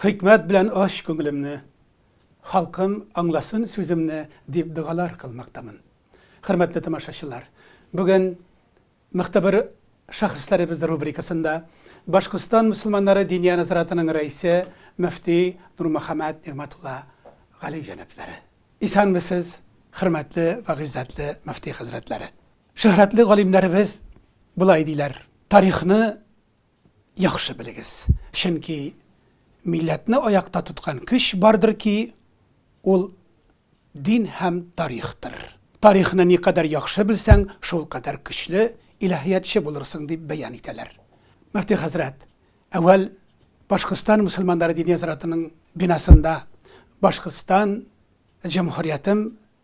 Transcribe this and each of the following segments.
Хикмәт белән ач күңелемне, Халкым аңласын сүземне, дип догалар кылмактамын. Хөрмәтле тамашачылар, бүген Мыкты бер шәхесләребез рубрикасында Башкортстан мөселманнары Диния назаратының рәисе, мөфти Нурмөхәммәт Нигъмәтулла Гали җәнаплары. Исәнмесез, хөрмәтле вә гыйззәтле мөфти хәзрәтләре! Шөһрәтле галимнәребез болай диләр, Тарихны яхшы белегез, чөнки милләтне аякта тоткан көч бардыр ки, ул дин һәм тарихтыр. Тарихны никадәр яхшы белсәң, шулкадәр көчле илаһиятче булырсың, дип бәян итәләр. Мөфти хәзрәт, әүвәл Башкортстан мөселманнары дини нәзарәтенең бинасында Башкортстан җөмһүриятем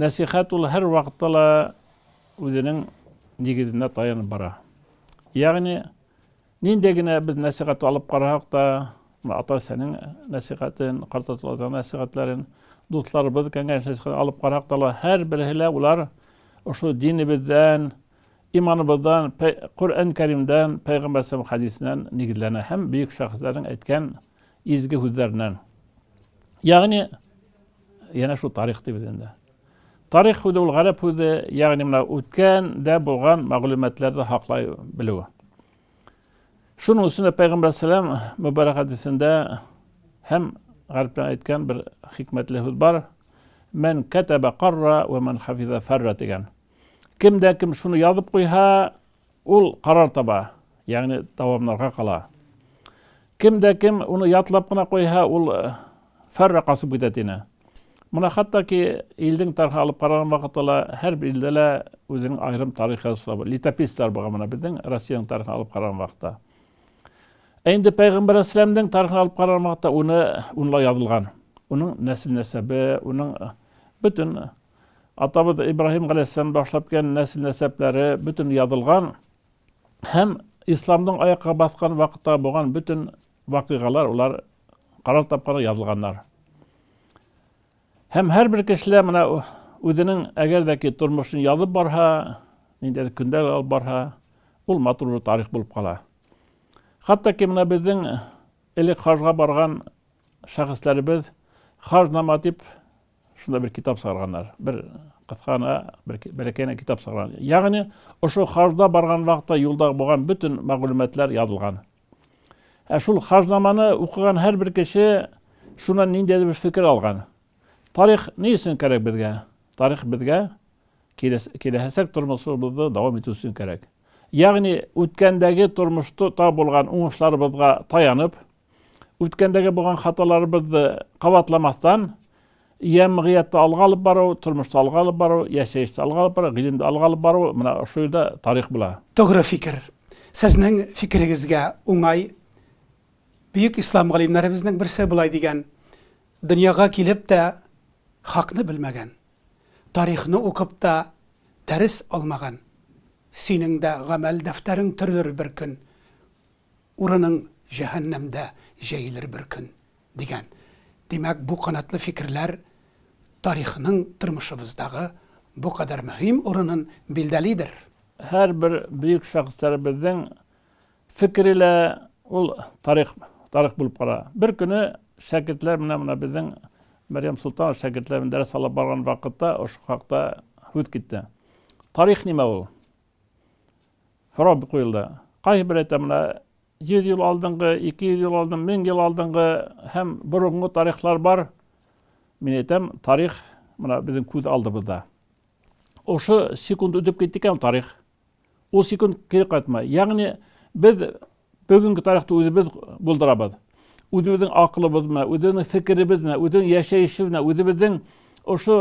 Нәсыйхәт ул һәрвакытта ла үзенең нигезенә таянып бара. Ягъни, нинди генә без нәсыйхәт алып карасак та, ата-әсәнең нәсыйхәтен, картатуларның нәсыйхәтләрен, дусларыбыз кәңәшләшкән алып карасак та, һәр берсе лә улар ошо динебездән, иманыбыздан, Коръән Кәримдән, Пәйгамбәр саллаллаху хәдисеннән нигезләнә һәм бөек шәхесләрнең әйткән изге һүзләреннән. Ягъни, Янә шул тарих дибез инде. Тарих үзе ул гарәп үзе, ягъни менә үткән дә булган мәгълүматларда хаклай белү. Шуның өчен дә Пәйгамбәр сәлам мөбарәк хәдисендә һәм гарәптән әйткән бер хикмәтле һүз бар. Мән кәтәбә карра ва мән хафиза фәрра дигән. Кем дә кем шуны язып куйһа, Ул карар таба, ягъни дәвамнарга кала. Кем дә кем уны ятлап кына куйһа, ул э, фәрра касып китә тине. Моны хәтта ки илдең тарихы алып караган вакытта ла һәр бер илдә лә үзенең аерым тарихы языла. Летописцлар булган менә безнең Россиянең тарихын алып караган вакытта. Ә инде пәйгамбәр әсләмнең тарихын алып караган вакытта уны унла язылган. Уның нәсел нәсәбе, уның бөтен атабыз Ибраһим галәйһиссәлам башлап килгән нәсел-нәсәпләре бөтен язылган һәм исламның аякка баскан вакытта булган бөтен вакыйгалар улар карар тапкан язылганнар. Һәм һәрбер кешеләр менә үзенең әгәр дә ки тормышын язып барһа, ниндидер көндәр алып барһа, ул матур бер тарих булып кала. Хәтта ки менә безнең элек хаҗга барган шәхесләребез хаҗ нама дип Шунда бер китап сарганнар. Бер кыскана, бер бәләкәйне китап сарган. Ягъни, ошо хажда барган вакытта юлда булган бөтен мәгълүматлар язылган. Ә шул хажнаманы укыган һәр бер кеше шуннан ниндәй бер фикер алган. Тарих ни өчен кирәк безгә? Тарих безгә киләһәсәк тормышыбызны дәвам итү өчен кирәк. Ягъни, үткәндәге тормышта булган уңышларыбызга таянып, үткәндәге булган хаталарыбызды кабатламастан, ямгыятьтә алга алып бару, тормышта алга алып бару, яшәештә алга алып бару, гыйлемдә алга алып бару, менә шул да тарих була. Тугры фикер. Сезнең фикерегезгә уңай. Бөек ислам галимнәребезнең берсе болай дигән, Дөньяга килеп тә хакны белмәгән, тарихны укып та дәрес алмаган, синең дә гамәл дәфтәрең төрелер бер көн. Урының җәһәннәмдә җәелер бер көн, дигән. Димәк, бу канатлы фикерләр тарихның тормышыбыздагы бу кадәр мөһим урынын билдәлидер. Һәрбер бөек шәхесләребезнең фикере лә ул тарих, тарих булып кала. Бер көне шәкертләр менә менә безнең Мәрьям Солтанова шәкертләр белән дәрес алып барган вакытта ошо хакта һүз китте. Тарих нимә ул? Һорау бик куелды. Кайһы бер әйтә менә 100 ел алдынгы, 200 ел алдын, 1000 ел алдынгы һәм борынгы тарихлар бар. Мин әйтәм, тарих менә безнең күз алдыбызда. Ошо секунд үтеп китте икән тарих. Ул секунд кире кайтмай. Ягъни без Бүгенге тарихты үзебез булдырабыз. Үзебезнең акылыбыз менә, үзебезнең фикеребез менә, үзебезнең яшәешебез менә, үзебезнең ошо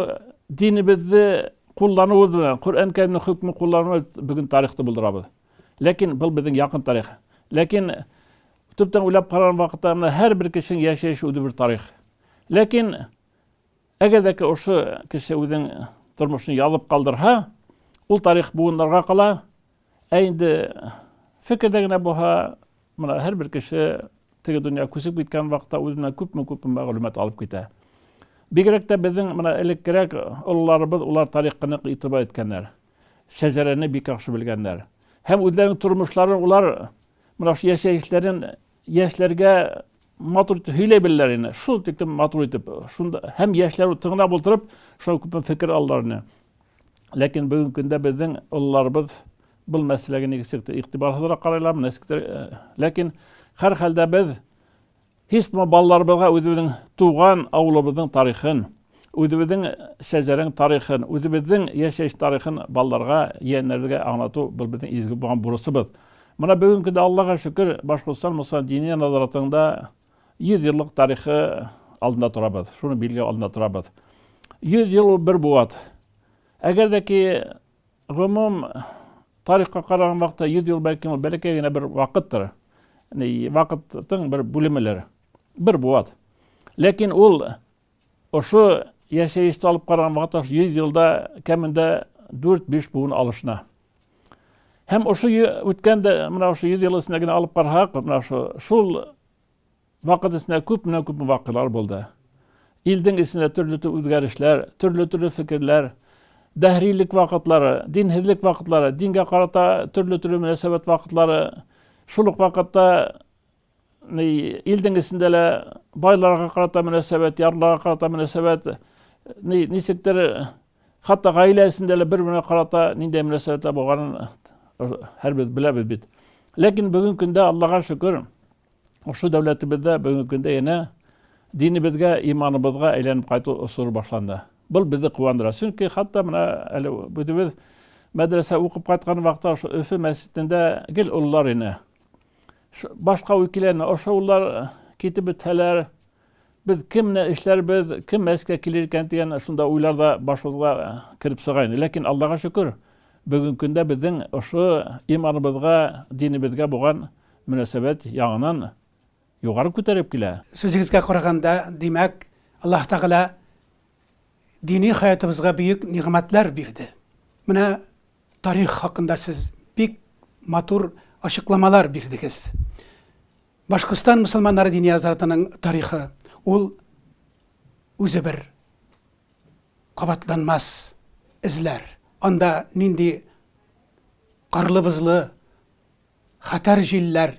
динебезне куллануыбыз белән, Коръән Кәримнең хөкмен куллануыбыз бүген тарихты булдырабыз. Ләкин был безнең якын тарих. Ләкин төптән уйлап караган вакытта менә һәр бер кешенең яшәеше үзе бер тарих. Ләкин әгәр дә ошо кеше үзенең тормышын язып калдырһа, ул тарих буыннарга кала, Ә инде фикердә генә булһа, менә һәрбер кеше теге дөнья күчеп киткән вакытта үзенә күпме-күпме мәгълүмат алып китә. Бигрәк тә безнең менә элеккерәк олыларыбыз улар тарихка нык игътибар иткәннәр. Шәҗәрәне бик яхшы белгәннәр. Һәм үзләренең тормышларын улар менә шул яшәешләрен яшьләргә матур итеп һөйләй беләләр инде. Шул тиклем матур итеп. Шунда һәм яшьләр тыңлап утырып, шуңа күпме фикер алалар инде. Ләкин бүгенге көндә безнең олыларыбыз бул мәсьәләгә нигезсез игътибарсызрак карайлар, нәскитер. Ләкин һәр хәлдә без һисмо балаларыбызга үзебезнең туган авылыбызның тарихын, үзебезнең шәҗәрәнең тарихын, үзебезнең яшәеш тарихын балаларга, яеннәргә аңлату бул безнең изге булган бурычыбыз. Менә бүгенге көндә Аллага шөкер, Башкортстан мөселман дини назаратында 100 еллык тарихы алдында торабыз. Шуны билгеләү алдында торабыз. 100 ел ул бер буат. Әгәр дә ки гомум тарихка караган вакытта 100 ел бәлки ул бәләкәй генә бер вакыттыр. Яни вакытның бер бүлемеләр. Бер буат. Ләкин ул Ошо яшәеште алып караган вакытта 100 елда кәмендә 4-5 буын алышына. Һәм ошо үткән дә менә ошо 100 ел эчендә генә алып карасак, менә ошо шул вакыт эчендә күп менә күп вакыйгалар булды. Илдең эчендә төрле төрле үзгәрешләр, төрле төрле фикерләр, дәһрилек вакытлары, динһезлек вакытлары, дингә карата төрле төрле мөнәсәбәт вакытлары, шул ук вакытта илдең эчендә лә байларга карата мөнәсәбәт, ярларга карата мөнәсәбәт, ничектер хәтта гаилә эчендә лә бер-беренә карата ниндәй мөнәсәбәттә булганын һәрбез беләбез бит. Ләкин бүгенге көндә Аллага шөкер, ошо дәүләтебездә бүгенге көндә янә динебезгә, иманыбызга әйләнеп кайту осыры башланды. Был безне куандыра. Чөнки хәтта менә әле үзебез мәдрәсә укып кайткан вакытта ошо Өфе мәчетендә гел олылар ине. Башка үкиләрне ошаулар китеп бетһәләр, без кемне эшләрбез, кем мәскә килер икән дигән шунда уйлар да башыбызга кереп сыга инде. Ләкин Аллага шөкер, бүгенге көндә безнең ошо иманыбызга, динебезгә булган мөнәсәбәт яңадан югары күтәрелеп килә. Сүзегезгә караганда, димәк, Аллаһ Тәгалә дини хаятыбызга бөек нигъмәтләр бирде. Менә Тарих хакында сез бик матур ачыкламалар бирдегез. Башкортстан мөселманнары дини азратының тарихы ул үзе бер кабатланмас эзләр. Анда нинди карлы-бозлы хәтәр җилләр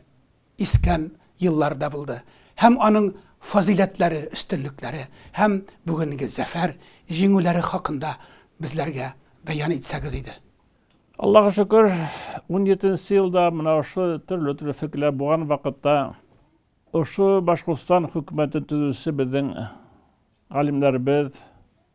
искән еллар да булды һәм аның фазыйләтләре, өстенлекләре һәм бүгенге зәфәр, җиңүләре хакында безләргә бәян итсәгез иде. Аллага шөкер, унҗиде нче елда менә ошо төрле-төрле фикерләр булган вакытта ошо Башкортстан хөкүмәтен төзүче безнең галимнәребез,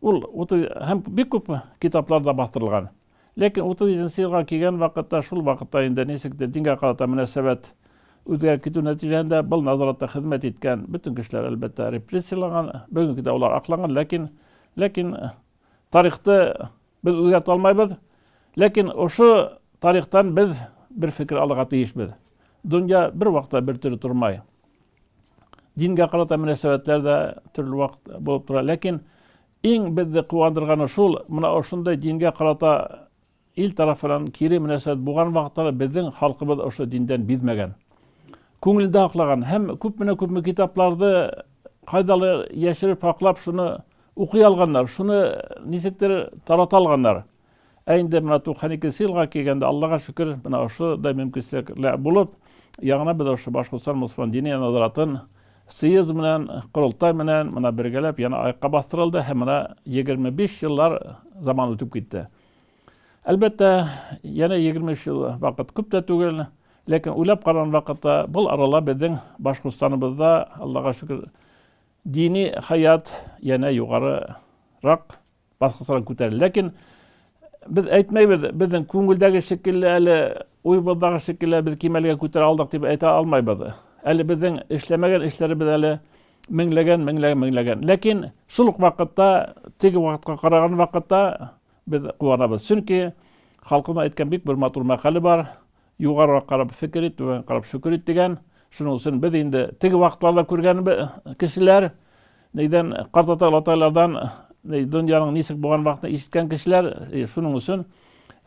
Ул утыз һәм бик күп китаплар да бастырылган. Ләкин утыз җиденче елга килгән вакытта, шул вакытта инде ничектер дингә карата мөнәсәбәт үзгәреп китү нәтиҗәһендә был назаратта хезмәт иткән бөтен кешеләр, әлбәттә, репрессияланган, бүгенге көндә алар акланган, ләкин, ләкин тарихты без үзгәртә алмайбыз. Ләкин ошо тарихтан без бер фикер алырга тиешбез. Дөнья бер вакытта бер төрле тормай. Дингә карата мөнәсәбәтләр дә төрле вакыт булып тора. Ләкин иң безне куандырганы шул, менә ошындай дингә карата ил тарафынан кире мөнәсәбәт булган вакытларда безнең халкыбыз ошо диндән бизмәгән. Күңелендә аклаган һәм күпме күпме китапларды кайдалар яшереп хаклап шуны укый алганнар, шуны ничектер тарата алганнар. Ә инде менә 92 елга килгәндә, Аллага шөкер, менә ошо да мөмкинчелекләр булып, яңадан без ошо Башкортстан мөселман дини надаратын съезд белән, корылтай белән менә бергәләп яна аякка бастырылды һәм менә 25 еллар заман үтеп китте. Әлбәттә, яна 23 ел вакыт күп тә түгел, ләкин уйлап караган вакытта бул арала безнең Башкортстаныбызда, Аллага шөкер, дини хаят яна югарырак баскысырак күтәрелде. Ләкин без әйтмәйбез, безнең күңелдәге шикелле әле уйыбыздагы шикелле без кимәлгә күтәрә алдык дип әйтә алмайбыз. Әле безнең эшләмәгән эшләребез әле меңләгән, меңләгән, меңләгән. Ләкин шул ук вакытта, теге вакытка караган вакытта без куанабыз. Чөнки халкыбызның әйткән бик бер матур мәкале бар. Югарырак карап фикер ит, түбән карап шөкер ит дигән. Шуның өчен без инде теге вакытларда күргән кешеләр, нидән карт ата-олатайлардан дөньяның ничек булган вакытны ишеткән кешеләр, шуның өчен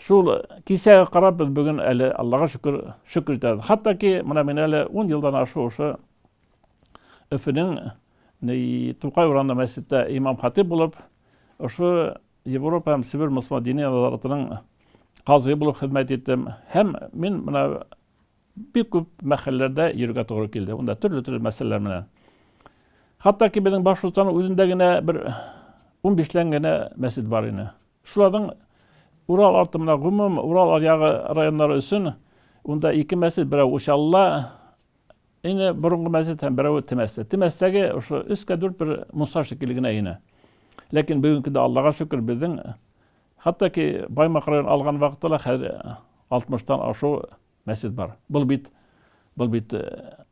шул кисәгә карап без бүген әле Аллага шөкер, шөкер итәбез. Хәтта ки менә мин әле 10 елдан ашу ошо Өфөнең Тукай урамында мәчеттә имам хатип булып, ошо Европа һәм Себер Мосма дини назаратының казые булып хезмәт иттем. Һәм мин менә бик күп мәхәлләрдә йөрергә тугры килде. Унда төрле-төрле мәсьәләләр менән. Хәтта ки безнең Башкортстанның үзендә генә бер 15 лән генә мәсҗид бар иде. Шуларның Урал арты менә гомум Урал аръягы районнары өчен унда ике мәсҗид, берәү Учалла, Инде борынгы мәсет һәм берәве Темәстә. Темәстәге ошо өскә дүрт бер Муса шикелле генә ине. Ләкин бүгенгедә Аллага шөкер безнең хәтта ки Баймак район алган вакытта ла хәзер 60тан ашу мәсет бар. Бул бит бул бит э,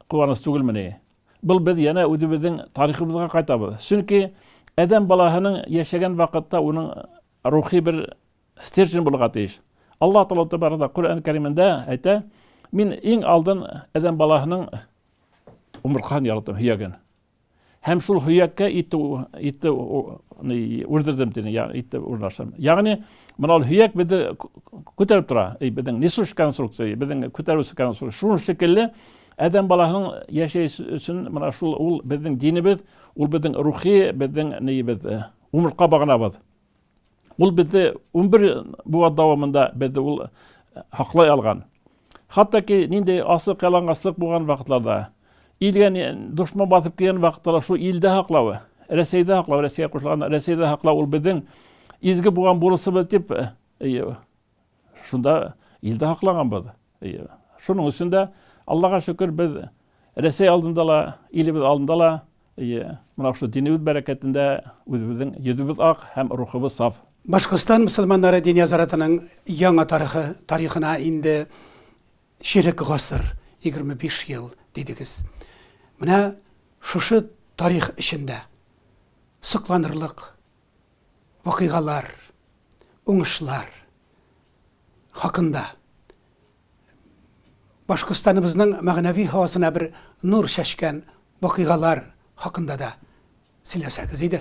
куаныч түгелмени? Бул без янә үзебезнең тарихыбызга кайтабыз. Чөнки адәм балаһының яшәгән вакытта уның рухи бер стержень булырга тиеш. Аллаһ Тәгалә Тәбәрәк Коръән Кәримендә әйтә, мин иң алдын адәм баласының умырткасын яраттым, һөяген. Һәм шул һөяккә итте, итте үрдердем дине, итте урнаштым. Ягъни, менә ул һөяк безне күтәреп тора, безнең несущ конструкция, безнең күтәрүче конструкция. Шул шикелле адәм баласының яшәеш өчен менә шул ул безнең динебез, ул безнең рухи, безнең нибез, умыртка баганабыз. Ул безне 11 буа дәвамында безне ул хаклай алган. Хәтта ки нинди асык ялангаслык булган вакытларда, илгә дошман басып килгән вакытларда шул илдә хаклавы, Рәсәйдә хаклау, Рәсәйгә кушылган Рәсәйдә хаклау ул безнең изге булган бурысыбыз дип Шунда илдә һакланганбыз. Шуның өчен дә Аллага шөкер, без Рәсәй алдында ла, илебез алдында ла, мына шул динебез бәрәкәтендә үзебезнең йөзебез ак һәм рухыбыз саф. Башкортстан мөселманнары дини азаратының яңа тарихы, тарихына инде чирек гасыр, 25 ел дидегез. Менә шушы тарих эчендә сокланырлык, вакыйгалар, уңышлар хакында Башкортстаныбызның мәгънәви һавасына бер нур чәчкән вакыйгалар хакында да сөйләсәгез иде.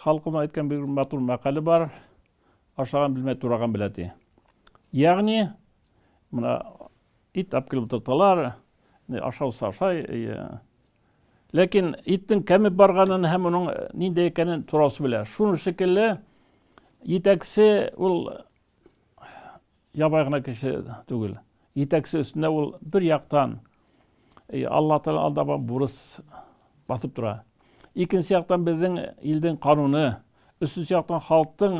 Халкыма әйткән бер матур мәкале бар. Ашаган белмә, тураган белә ди. Ягъни, мына ит алып килеп утырталар, ашаусы ашай, Ләкин иттең кәмеп барганын һәм моның нинди икәнен турасы белә. Шуны шикелле җитәкче ул ябай гына кеше түгел. Җитәкче өстендә ул бер яктан э, Алла Тәгалә алдагы бурыч басып тора. Икенче яктан безнең илдин кануны, өченче яктан халыктың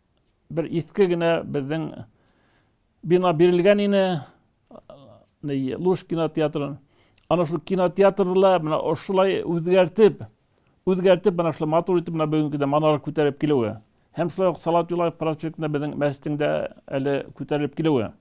Бер иске генә безнең бина бирелгән ине, Луш кинотеатрын. Ана шул кинотеатрла менә ошылай үзгәртеп, үзгәртеп менә шулай матур итеп менә бүгенгедә манара күтәреп килүе. Һәм шулай ук Салат Юлаев проспектында безнең мәчетең дә әле күтәрелеп килүе.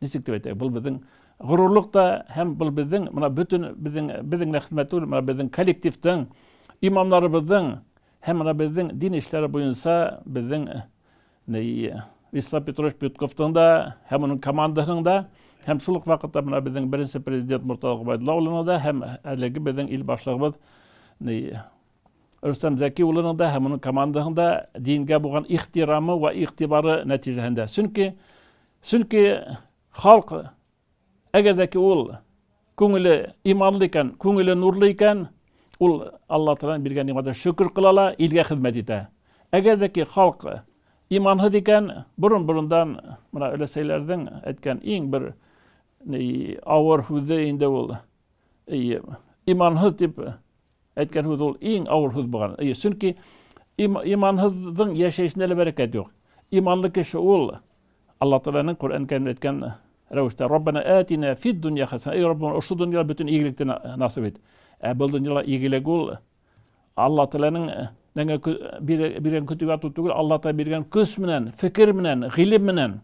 Ничек дип әйтәйек, был безнең горурлык та һәм был безнең менә бөтен безнең безнең генә хезмәт түгел, менә безнең коллективның, имамнарыбызның һәм менә безнең дин эшләре буенча безнең Вячеслав Петрович Петковның да һәм аның командасының да һәм шул ук вакытта менә безнең беренче президент Муртаза Гобайдулла улының да һәм әлеге безнең ил башлыгыбыз Рөстәм Зәки улының да һәм аның командаһының да дингә булган ихтирамы ва игътибары нәтиҗәһендә. Чөнки чөнки халк әгәр дә ки ул күңеле иманлы икән, күңеле нурлы икән, ул Алла Тәгаләнең биргән нигъмәтенә шөкер кыла ала, илгә хезмәт итә. Әгәр дә ки халк иманһыз икән, борын-борындан менә өләсәйләрнең әйткән иң бер авыр һүзе инде ул иманһыз дип Әйткән һүз ул иң авыр һүз булган. Әйе, чөнки им, иманһызның яшәешендә лә бәрәкәт юк. Иманлы кеше ул Алла Тәгаләнең Коръән Кәримдә әйткән рәвештә Раббана атина фид дөнья хасана. Эй Раббым, ошо дөньяда бөтен игелекне насыйп ит. Ә бу дөньяда игелек ул Алла Тәгаләнең биргән көтүгә тоту түгел, Алла Тәгалә биргән көч менән, фикер менән, гыйлем менән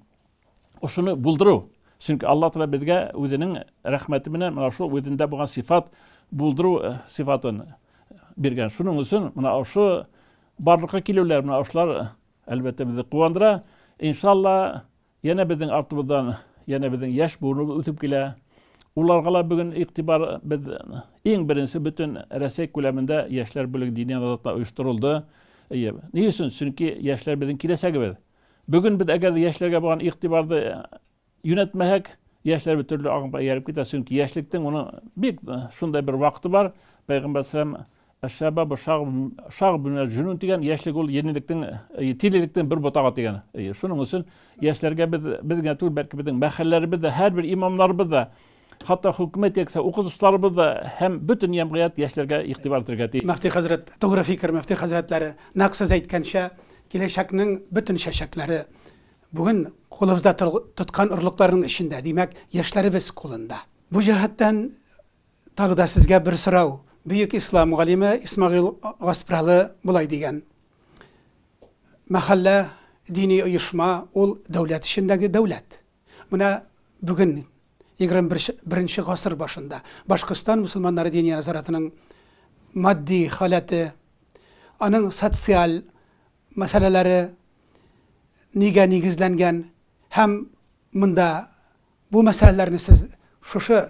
Ошыны булдыру. Чөнки Аллаһ Тәгалә безгә үзенең рәхмәте белән менә шул үзендә булган сифат булдыру э, сифатын биргән. Шуның өчен менә ошо барлыкка килүләр менә ошылар э, әлбәттә безне куандыра. Иншалла, янә безнең артыбыздан янә безнең яшь буыныбыз үтеп килә. Уларга ла бүген игътибар без иң беренче бөтен Рәсәй күләмендә яшьләр бүлеге дини назарәтендә оештырылды. Ни өчен? Чөнки яшьләр безнең киләчәгебез. Бүген без әгәр яшьләргә булган игътибарды э, юнәтмәһәк, яшьләр бит төрле агымга ияреп китә, чөнки яшьлектең уның бик э, шундай бер вакыты бар. Пәйгамбәр салам Әшәбабы шаг бинәл җүнүн дигән яшьлек ул ерлектең э, тилелектең бер ботагы дигән. Шуның өчен яшьләргә без без генә түгел, бәлки безнең мәхәлләребез дә, һәрбер имамнарыбыз да Хатта хөкүмәт яисә укытучыларыбыз да һәм бөтен җәмгыять яшьләргә игътибар итәргә тиеш. Мөфти хәзрәт, тугры фикер, мөфти хәзрәтләре, нәкъ сез әйткәнчә, киләчәкнең бөтен чәчәкләре бүген кулыбызда тоткан орлыкларның эчендә, димәк, яшьләребез кулында. Бу җәһәттән тагы да сезгә бер сорау. Бөек ислам галиме Исмагыйл Гаспралы болай дигән, Мәхәллә, дини оешма, ул дәүләт эчендәге дәүләт. Менә бүген, 21 гасыр башында, Башкортстан мөселманнары Диния нәзарәтенең матди халәте, аның социаль мәсьәләләре нигә нигезләнгән һәм монда бу мәсьәләләрне сез шушы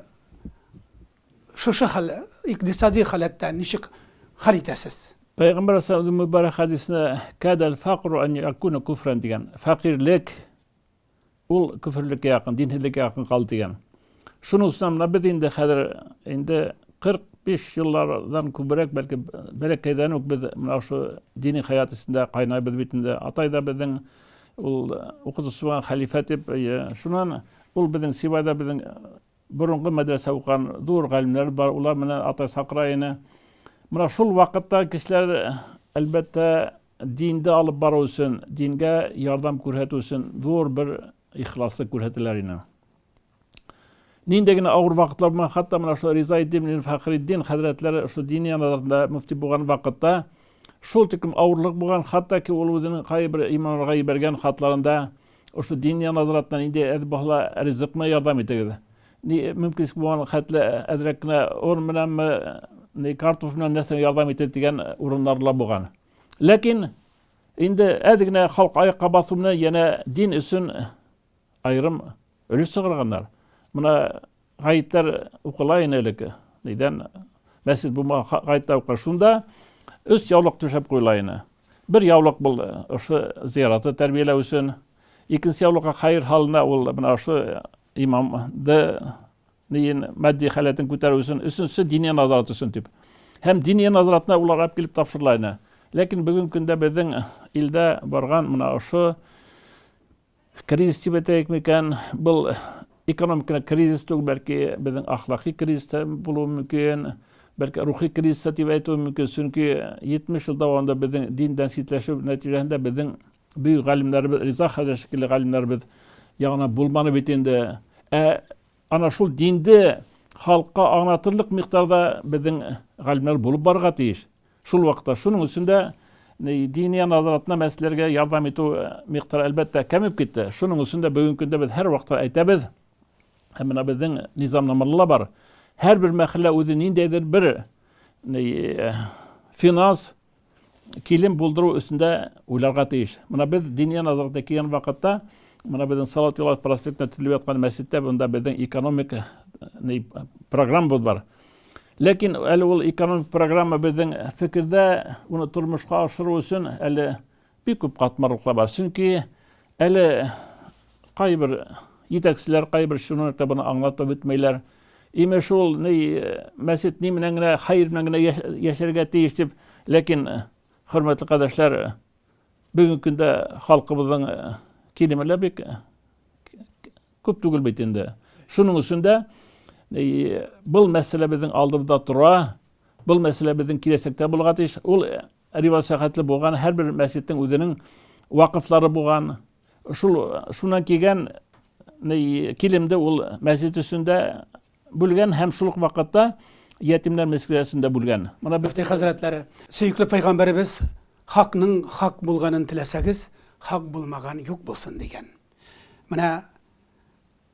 шушы хәл икътисади халәттә ничек хәл итәсез? Пәйгамбәр саллаллаһу мөбарәк хәдисендә кадәл факру ан якуна куфран дигән, фәкыйрьлек Ул көферлеккә якын, динһезлеккә якын калды дигән. Шуның өстенә менә без инде хәзер инде 45 еллардан күбрәк, бәлки бәләкәйдән үк без менә шул дини хәят эчендә кайнайбыз бит инде. Атай да безнең ул укытучы булган хәлифә дип, шуннан ул безнең Сибайда безнең борынгы мәдрәсә укыган зур галимнәр бар, улар менә атай чакыра иде. Менә шул вакытта кешеләр, әлбәттә, Динде алып бару өчен, дингә ярдәм күрһәтү өчен зур бер ихласлык күрһәтәләр иде. Нинди генә авыр вакытлар булмаган, хәтта менә шул Риза Иддин Фәхриддин хәзрәтләре шул дини янлыгында мөфти булган вакытта шул тиклем авырлык булган, хәтта ки ул үзенең кайбер имамнарга ибәргән хатларында ошо дини назаратта нинди әз булса ризыкны ярдәм итегез. Ни мөмкин булган хәтле әзрәк кенә ор менәнме, ни картоф менән нәрсә ярдәм итә дигән урыннар ла булган. Ләкин инде әз генә халык аякка басу белән янә дин өчен аерым өлеш чыгарганнар. Менә гаетләр укыла иде элек. Нидән мәсҗид булмаган гаетләр укыла. Шунда өч яулык түшәп куела иде. Бер яулык бул ошо зияраты тәрбияләү өчен, икенче яулыкка хәер халына ул менә ошо Имам ды ниен мәдди халәтен күтәрү өчен, өченче дини назарат өчен дип. Һәм дини назаратны улар алып килеп тапшырыла иде. Ләкин бүгенге көндә безнең илдә барган мына ошо кризис дип әйтәйек микән, был экономик кризис түгел, бәлки безнең ахлакый кризис та булуы мөмкин, бәлки рухи кризис та дип әйтүе мөмкин, чөнки 70 ел дәвамында безнең диндән читләшү нәтиҗәсендә безнең Бөек галимнәребез, Риза хәзрәт шикелле галимнәребез ягына булманы бит инде. Ә ана шул динде халыкка аңлатырлык микъдарда безнең галимнәр булып барырга тиеш. Шул вакытта шуның өчен дә дини назаратына мәсьәләргә ярдәм итү э, микъдары әлбәттә кәмеп китте. Шуның өчен дә бүгенге көндә без һәр вакытта әйтәбез, һәм менә безнең низамнамада да бар. Һәрбер мәхәллә үзе ниндәйдер бер э, финанс килен булдыру өстендә уйларга тиеш. Менә без диния назарәте кигән вакытта, менә безнең Салават Юлаев проспектында төзелеп яткан мәчеттә монда безнең экономик э, программабыз бар. Ләкин әле ул экономик программа безнең фикердә, уны тормышка ашыру өчен әле Бик күп катмарлыклар бар, чөнки әле кайбер җитәкчеләр, кайбер чиновниклар буны аңлатып үтмәйләр. Имеш ул, ни, мәсет ни менән генә, хәер менән генә яшәргә тиеш дип, ләкин, хөрмәтле кадәшләр, бүгенге көндә халкыбызның килеме лә бик күп түгел бит инде. Шуның өчен дә был мәсьәлә безнең алдыбызда тора, был мәсьәлә безнең киләчәктә булырга тиеш. Ул Рибат сәхәтле булган, һәрбер мәсҗидтең үзенең вакыфлары булган. Шул шуннан килгән килемде ул мәсҗид өстендә бүлгән һәм шул ук вакытта ятимнәр мәсҗидендә бүлгән. Моны мөфти хәзрәтләре, сөекле пәйгамбәребез хакның хак булганын теләсәгез, хак булмаган юк булсын дигән. Менә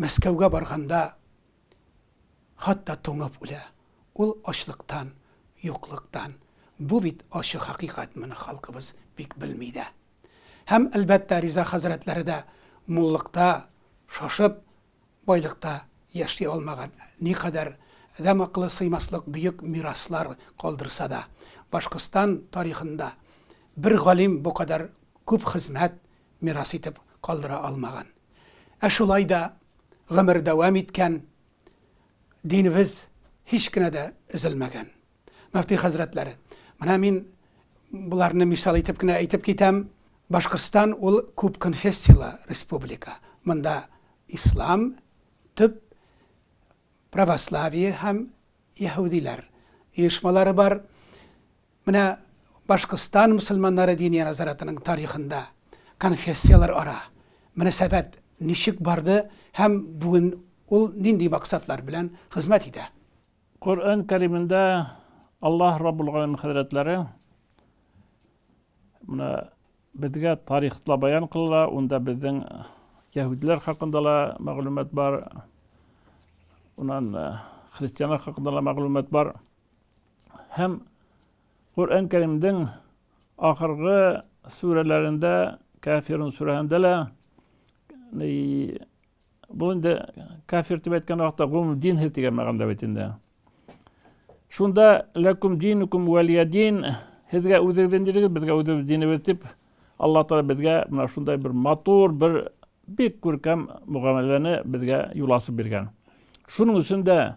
Мәскәүгә барганда хат та туңып үлә. Ул ачлыктан, юклыктан. Бу бит ачы хакыйкать, моны халкыбыз бик белми дә. Һәм, әлбәттә, Риза хәзрәтләре дә муллыкта шашып, байлыкта яши алмаган. Никадәр адәм акылы сыймаслык бөек мираслар калдырса да, Башкортстан тарихында бер галим бу кадәр күп хезмәт мирас итеп калдыра алмаган. Ә шулай да гомер дәвам иткән, динебез һич кенә дә өзелмәгән. Мөфти хәзрәтләре, менә мин боларны мисал итеп кенә әйтеп китәм. Башкортстан ул күп конфессияле республика. Монда ислам төп православие һәм яһүдиләр оешмалары бар. Менә Башкортстан мөселманнары Диния назаратының тарихында конфессияләр ара мөнәсәбәт ничек барды һәм бүген ул нинди максатлар белән хезмәт итә? Коръән Кәримендә Аллаһ Раббул Галәмин хәзрәтләре менә безгә тарихта баян кылыла, унда безнең яһүдләр хакында ла мәгълүмат бар, унан христианнар хакында ла мәгълүмат бар. Һәм Коръән Кәримдең ахыргы сүрәләрендә, Кафирун сүрәһендә лә бу инде кафир дип әйткән вакытта гомум динһи дигән мәгънәдә бит инде. Шунда ләкум динукум вәлия дин, һезгә үзегез динегез, безгә үзебез динебез дип Алла Тәгалә безгә менә шундай бер матур, бер бик күркәм мөгамәләне безгә юласы биргән. Шуның өчен дә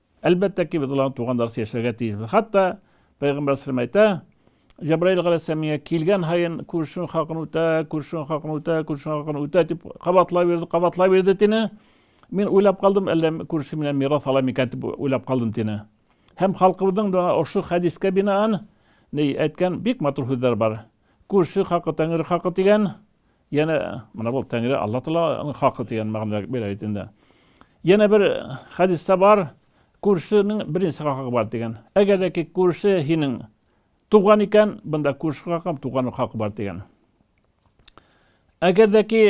Әлбәттә ки, без аларны туганнарча яшәргә тиешбез. Хәтта Пәйгамбәр сәлләм әйтә, Җәбраил галәйһиссәлам миңа килгән һаен күршең хакын үтә, күршең хакын үтә, күршең хакын үтә дип кабатлап йөрде, кабатлап йөрде тине. Мин уйлап калдым, әллә күрше менә мирас ала микән дип уйлап калдым тине. Һәм халкыбызның да ошо хәдискә бинаан ни әйткән бик матур сүзләр бар. Күрше хакы тәңре хакы дигән, Яна менә бу Тәңре Алла Тәгаләнең хакы дигән мәгънәдә бирә бит инде. Яна бер хадисда бар, күршенең беренче хакы бар дигән. Әгәр дә ки күрше һинең туган икән, бында күрше хакы һәм туган хакы бар дигән. Әгәр дә ки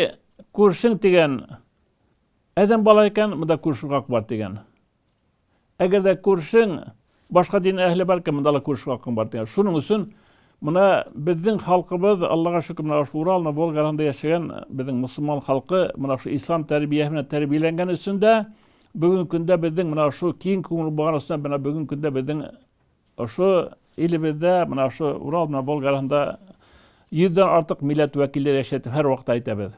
күршең дигән адәм бала икән, бында күрше хакы бар дигән. Әгәр дә күршең башка дин әһеле бар икән, монда ла күрешер хакың бар дигән. Шуның өчен менә безнең халкыбыз, Аллага шөкер, менә шул Урал, менә Волга арасында яшәгән безнең мөселман халкы менә шул ислам тәрбиясе белән тәрбияләнгән өчен дә бүгенге көндә безнең менә шул киң күңел булган өчен менә бүгенге көндә безнең ошо илебездә менә шул Урал, менә Волга арасында йөздән артык милләт вәкилләре яшәтеп һәр вакытта әйтәбез.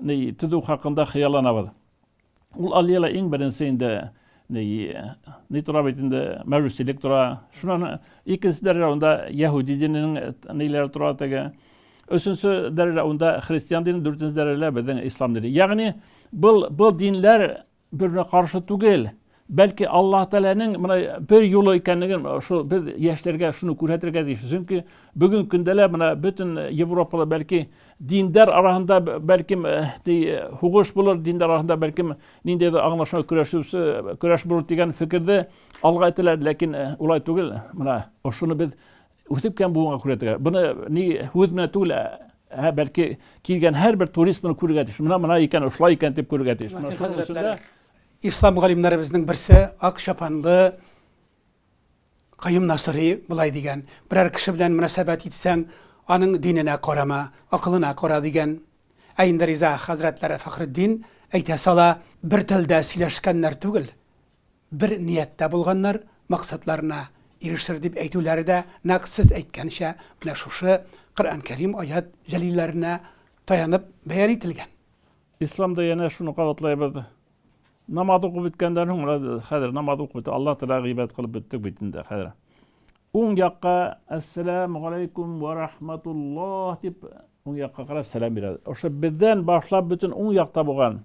ни, төзү хакында хыялланабыз. Ул аллеяла иң беренче инде ни, ни тора бит инде, мәҗүсилек тора. Шуннан икенче дәрәҗә анда яһүди диненең ниләре тора теге. Өченче дәрәҗә анда христиан дине, дүртенче дәрәҗә безнең ислам дине. Ягъни, был, был динләр Берне каршы түгел. Бәлки Аллаһ Тәгаләнең менә бер юлы икәнлеген шул без яшьләргә шуны күрһәтергә тиеш. Чөнки бүген көндә лә менә бөтен Европада бәлки диндар арасында бәлки хугыш булыр, диндар арасында бәлки ниндидер аңлашма көрәшүсе көрәш булыр дигән фикердә алга әйтәләр, ләкин улай түгел. Менә ошоны без Үсеп кем булуыңа күрә тегә. Буны ни үз менә түгел, ә бәлки килгән һәрбер турист моны күрергә тиеш. Менә мына икән, шулай икән дип күрергә тиеш. Менә шуның өчен дә ислам галимнәребезнең берсе ак чапанлы Каюм Насыри болай дигән, берәр кеше белән мөнәсәбәт итсәң, аның диненә карама, акылына кара дигән. Ә инде Риза хәзрәтләре Фәхретдин әйтә сала, бер телдә сөйләшкәннәр түгел, Бер нияттә булганнар максатларына ирешер дип әйтүләре дә нәкъ сез әйткәнчә менә шушы Коръән Кәрим аять җәлилләренә таянып бәян ителгән. Исламда янә шуны кабатлайбыз, намаз укып беткәндән соң, менә без хәзер намаз укып беттек, Алла Тәгаләгә гыйбадәт кылып беттек бит инде хәзер. Уң якка Әссәламү галәйкүм вә рахматуллаһ дип, уң якка карап сәлам бирәбез. Ошо бездән башлап бөтен уң якта булган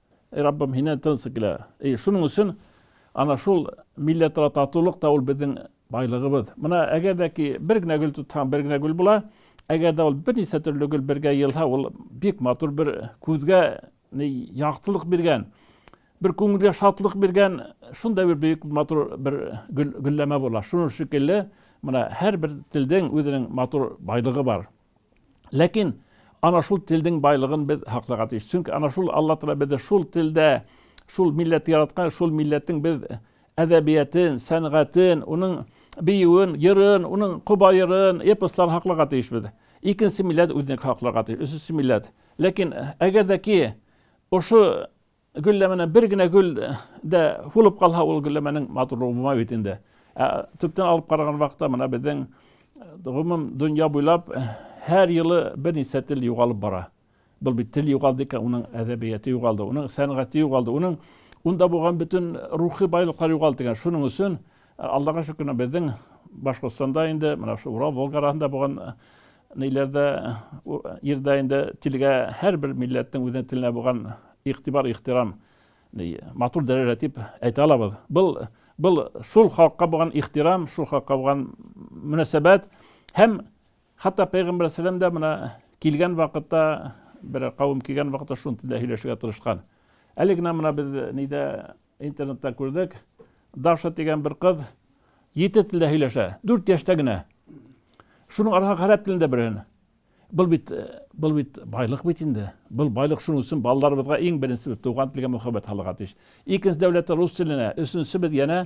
Эй Раббым, һиннән тын сикелә. И, шуның өчен ана шул милләтара татулык та ул безнең байлыгыбыз. Менә әгәр дә ки бер генә гөл тотһаң, бер генә гөл була, әгәр дә ул берничә төрле гөл бергә елһа, ул бик матур бер күзгә яктылык биргән, бер күңелгә шатлык биргән, шундай бер бөек матур бер гөлләмә була. Шуның шикелле, менә һәр бер телдең үзенең матур байлыгы бар. Ләкин ана шул телдең байлыгын без хакларга тиеш. Чөнки ана шул Алла Тәгалә безне шул телдә, шул милләт яраткан, шул милләтнең без әдәбиятен, сәнгатен, уның биюен, йырын, уның коба йырын, эпосларын хакларга тиеш без. Икенче милләт үзенеке хакларга тиеш, өченче милләт. Ләкин әгәр дә ки ошо Гөлләмәнән бер генә гөл дә һулып калһа, ул гөлләмәнең матурлыгы булмай бит инде. Ә төптән алып караган вакытта менә безнең гомум дөнья буйлап һәр елы берничә тел югалып бара. Был бит тел югалды икән, уның әдәбияты югалды, уның сәнгате югалды, уның унда булган бөтен рухи байлыклар югалды икән. Шуның өчен Аллага шөкер, безнең Башкортстанда инде менә шул Урал Волга арасында булган Ниләрдә ирдә инде телгә һәрбер милләтнең үзенең теленә булган игътибар, ихтирам матур дәрәҗә дип әйтә алабыз. Был был шул халыкка булган ихтирам, шул халыкка булган мөнәсәбәт һәм хәтта пәйгамбәр сәлам да менә килгән вакытта бер кавым килгән вакытта шул телдә һөйләшергә тырышкан. Әле генә менә без нидә Интернетта күрдек. Даша дигән бер кыз ете телдә һөйләшә. Дүрт яшьтә генә. Шуның аркасында гарәп телендә белгән. Был бит э, был бит байлык бит инде. Был байлык шуның өчен балаларыбызга иң беренче туган телгә мөхәббәт халыга тиеш. Икенче дәүләттә рус теленә, өченче без янә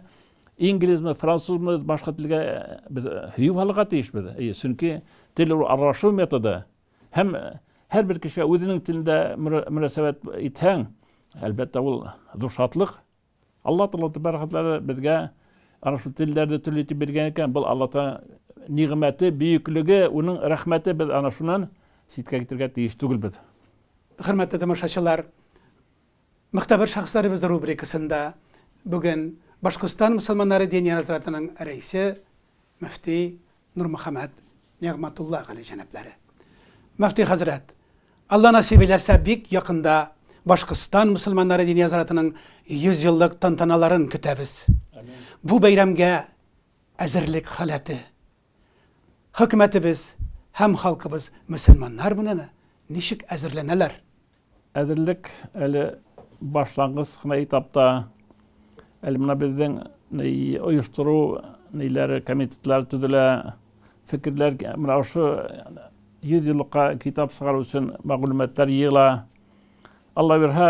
инглизме, французмы, башка телгә э, без һөю э, халыга тиешбез. Чөнки тел аралашу методы, Һәм һәр бер кешегә үзенең телендә мөнәсәбәт итһәң, әлбәттә, ул зур шатлык. Алла Тәгалә тәбәрәкәтәлә безгә ана шул телләрне төрле итеп биргән икән. Бул Алла Тәгалә нигъмәте, бөеклеге, уның рәхмәте без ана шуннан ситкә китергә тиеш түгелбез. Хөрмәтле тамашачылар, Могтәбер шәхесләребез рубрикасында бүген Башкортстан мөселманнары Диния назратының рәисе, мөфти Нурмөхәммәт Нигъмәтулла Гали җәнаплары. Мөфти хәзрәт, Алла насыйп эйләсә, бик якында Башкортстан мөселманнары Диния назратының 100 еллык тантаналарын көтәбез. Бу бәйрәмгә әзерлек халәте Хөкүмәтебез һәм халкыбыз мөселманнар менәме? Ничек әзерләнәләр? Әзерлек әле башлангыч кына этапта. Әле менә безнең оештыру ниләре, комитетлар төзелә. Фикерләр менә ошо 100 еллыкка китап чыгару өчен мәгълүматлар җыела. Алла бирһә,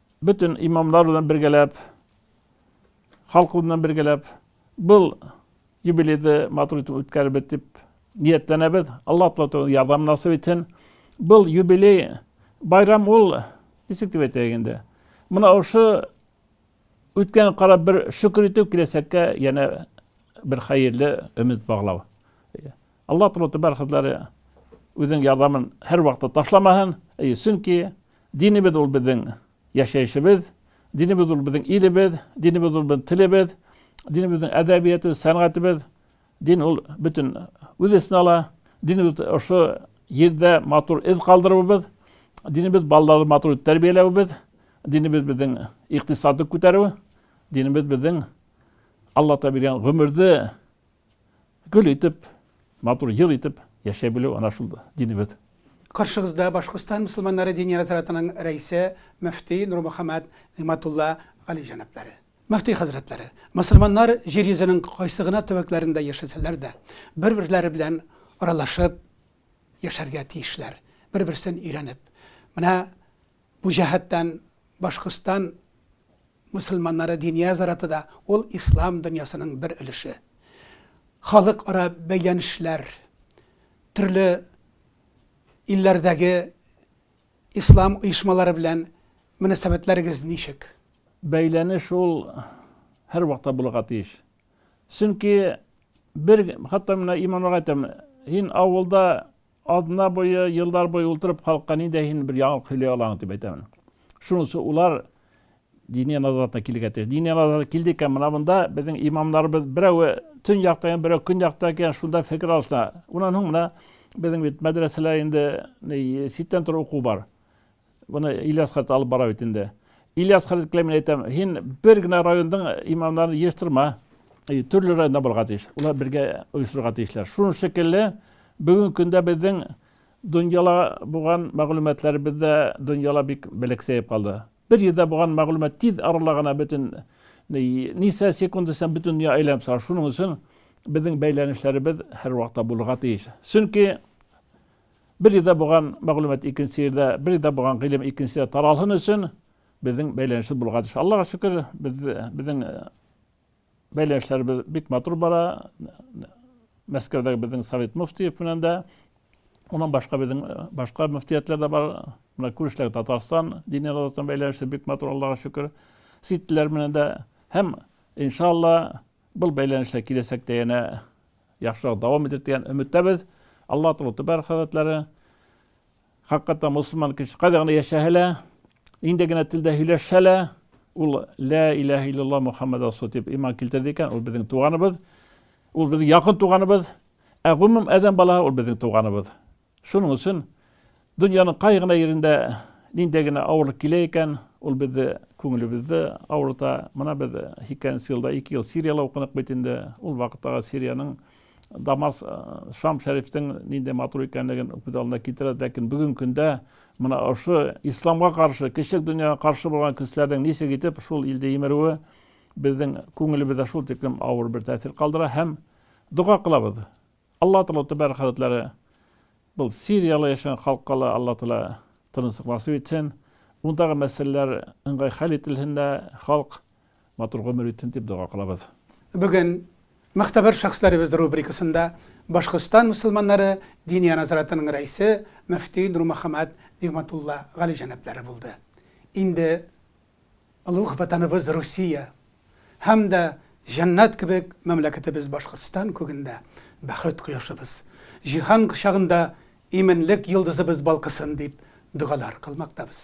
Бөтен имамлар белән бергәләп, халык белән бергәләп был юбилейды матур итеп үткәрербез дип ниятләнәбез. Алла Тәгалә ярдәм насыйп итсен. Был юбилей байрам ул ничек дип әйтәйек инде. Мына ошо үткән карап бер шөкер итү киләчәккә яна бер хәерле өмет баглау. Алла Тәгалә бар хәзләре үзенең ярдәмен һәрвакытта ташламаһын. Чөнки Динебез ул безнең яшәешебез, динебез ул безнең илебез, динебез ул безнең телебез, динебезнең әдәбиятыбыз, сәнгатебез. Дин ул бөтен үз эченә ала. Динебез ошо җирдә матур эз калдыруыбыз, динебез балаларыбызны матур итеп тәрбияләвебез, динебез безнең икътисадны күтәрү, динебез безнең Аллаһ Тәгалә биргән гомерне Гөл итеп, матур ел итеп яшәй белү ана шул динебез. Каршыгызда Башкортстан мөселманнары дини нәзарәтенең рәисе, мөфти Нурмөхәммәт Нигъмәтулла Гали җәнаплары. Мөфти хәзрәтләре, мөселманнар җир йөзенең кайсы гына төбәкләрендә яшәсәләр дә, бер-берләре белән аралашып яшәргә тиешләр, бер-берсен өйрәнеп. Менә Бу җәһәттән Башкортстан мөселманнары Диния зираты да ул ислам дөньясының бер өлеше. Халыкара бәйләнешләр, төрле илләрдәге ислам оешмалары белән мөнәсәбәтләрегез ничек? Бәйләнеш ул һәрвакытта булырга тиеш. Чөнки бер, хәтта менә Иман ага әйтәм, һин авылда Атна буе, еллар буе ултырып халыкка ниндәй һин бер яңалык сөйли алаң дип әйтәмен. Шунысы улар диния назарына килергә тиеш. Диния назарына килде икән, менә монда безнең имамнарыбыз берәүе төн якта икән, берәү көн якта икән, шунда фикер алышына. Унан һуң менә безнең бит мәдрәсәләр инде ситтән торып уку бар. Буны Ильяс хәзрәт алып бара бит инде. Ильяс хәзрәткә мин әйтәм, һин бер генә райондың имамнарын җыестырма. Төрле районда булырга тиеш. Улар бергә оештырырга тиешләр. Шуның шикелле бүгенге көндә безнең дөньяла булган мәгълүматларыбыз да дөньяла бик белексәеп калды. Бер җирдә булган мәгълүмат тиз арада гына бөтен нисә секунд исән бөтен дөнья әйләнеп сара. Шуның өчен безнең бәйләнешләребез һәрвакытта булырга тиеш. Чөнки Бер җирдә булган мәгълүмат икенче җирдә, бер җирдә булган гыйлем икенче җирдә таралсын өчен безнең бәйләнешебез булырга тиеш. Аллага шөкер, безнең э, бәйләнешләребез бик матур бара. Мәскәүдәге безнең Совет муфтиев белән дә, Онан башка безнең э, башка мөфтиятләр дә бар. Менә күрешләр Татарстан дине Татарстан бәйләнеше бик матур, Аллага шөкер. Ситләр менән дә һәм иншалла бул бәйләнешләр киләчәктә янә Яхшырак дәвам итер дигән өметтәбез. Алла Тәгалә Түбәр хәзрәтләре хаккатта мусульман кеше кайда гына яшәһә лә, нинди генә телдә һөйләшсә лә, ул лә иләһә иллаллаһ Мухаммад расул дип иман килтерде икән, ул безнең туганыбыз, ул безнең якын туганыбыз, ә гомум адәм балаһы ул безнең туганыбыз. Шуның өчен дөньяның кай гына җирендә ниндәй генә авырлык килә икән, ул безне күңелебезне авырта. Менә без икенче елда ике ел Сириядә укыдык бит инде. Ул вакыттагы Сириянең Дамас, Шам шәрифтең нинди матур икәнлеген күз алдына китерәбез, ләкин бүгенге көндә менә ошо исламга каршы, кечек дөньяга каршы булган көчләрнең ничек итеп шул илдә имерүе безнең күңелебездә шул тиклем авыр бер тәэсир калдыра һәм дога кылабыз. Алла Тәгалә Тәбәрәк хәзрәтләре был Сирияле яшәгән халыкка ла Алла Тәгалә тынычлык насыйп итсен, ундагы мәсьәләләр ыңгай хәл ителһен дә, халык матур гомер итсен дип дога кылабыз. Бүген Могтәбәр шәхесләребез рубрикасында Башкортстан мөселманнары Диния назаратының рәисе, мөфти Нурмөхәммәт Нигъмәтулла Гали җәнаплары булды. Инде Олуг Ватаныбыз Русия һәм дә җәннәт кебек мәмләкәтебез Башкортстан күгендә бәхет кояшыбыз, җиһан кочагында иминлек йолдызыбыз балкысын дип догалар кылмактабыз.